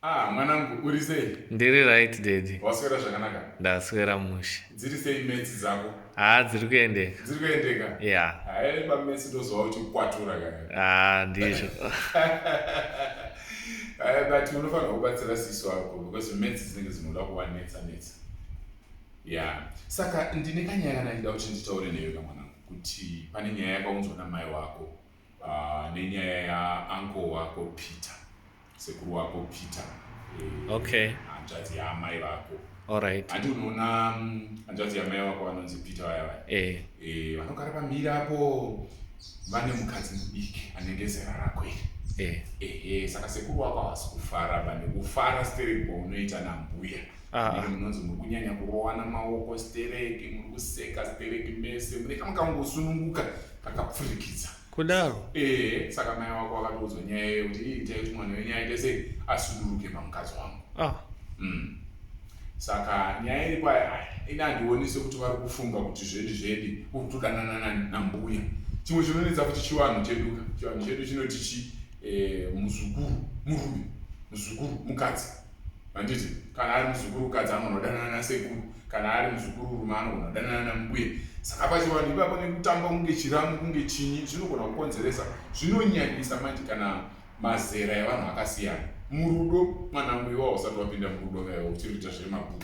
Ah, mwanangu uri sei? Ndiri right daddy. Waswera zvakanaka? Ndaswera mushe. Dziri sei metsi dzako? Ah, dziri kuendeka. Dziri kuendeka? Yeah. Hayi pa metsi ndozwa kuti kwatura kana. Ah, ndizvo. Hayi but unofanira kubatsira sisi wako because metsi dzinenge dzinoda kuva netsa netsa. Yeah. Saka ndine kanyaya kana ndida kuti nditaure newe kamwanangu kuti pane nyaya yakaunzwa na mai wako. uh, nenyaya yaanko wako peter sekuru wako peter eh, okay hanzvadzi yaamai vako alright handi unoona mm, hanzvadzi yamai vako vanonzi peter vaya vaya eh. eh, vanogara pamhiri apo vane mukadzi mudiki anenge zera rako iri eh. ehe saka sekuru wako havasi kufara pane kufara sterek kwaunoita nambuya Ah. munonzi muri kunyanya kurowana maoko stereki muri kuseka stereki mese mune kamukangosununguka kakapfurikidza kudaro ee saka mai wako akatoudzwa nyaya iyo kuti iitai kuti mwana wenyu aite sei asuduruke pamukadzi wangu ah. mm. saka nyaya iri kwayo ini handioni sekuti vari kufunga kuti zvedi zvedi kutodanana nambuya chimwe chinonetsa kuti chivanhu cheduka chivanhu chedu chinoti chi eh, muzukuru murume muzukuru mukadzi handiti kana ari muzukuru kadzi anogona kudanana nasekuru kana ari muzukuru rume anogona kudanana nambuye saka pachivanhu ipapo nekutamba kunge chiramu kunge chinyi zvinogona kukonzeresa zvinonyanyisa manje kana mazera evanhu akasiyana murudo mwana muiwa usati wapinda murudo vaiwa uchiri kuita zvemabhuku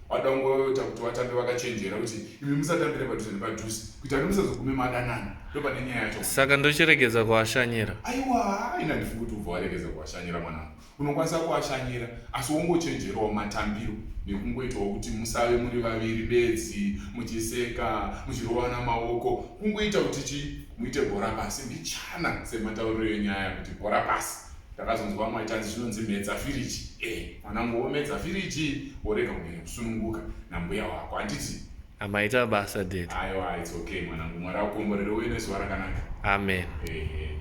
wada kungoita kuti vatambi vakachenjera kuti imi musatambire padhuze nepadhuze kuita kuti musazogume madanana ndo pane nyaya yacho saka ndochiregedza kuashanyira aiwa ina ndifunga kuti ubva waregedza kuashanyira mwanangu unokwanisa kuashanyira asi wongochenjerawo matambiro nekungoitawo kuti musave muri vaviri bedzi muchiseka muchirovana maoko kungoita kuti chii muite bhora pasi mbichana sematauriro enyaya kuti bhora pasi ndakazonzwa vamwe vaitanzi zvinonzi medza firiji e mwanangu womedza firiji worega kunyanya kusununguka nambuya wako handiti amaita basa ded aiwa its okay mwanangu mwari akukomborere uye nezuva rakanaka amen hey, hey.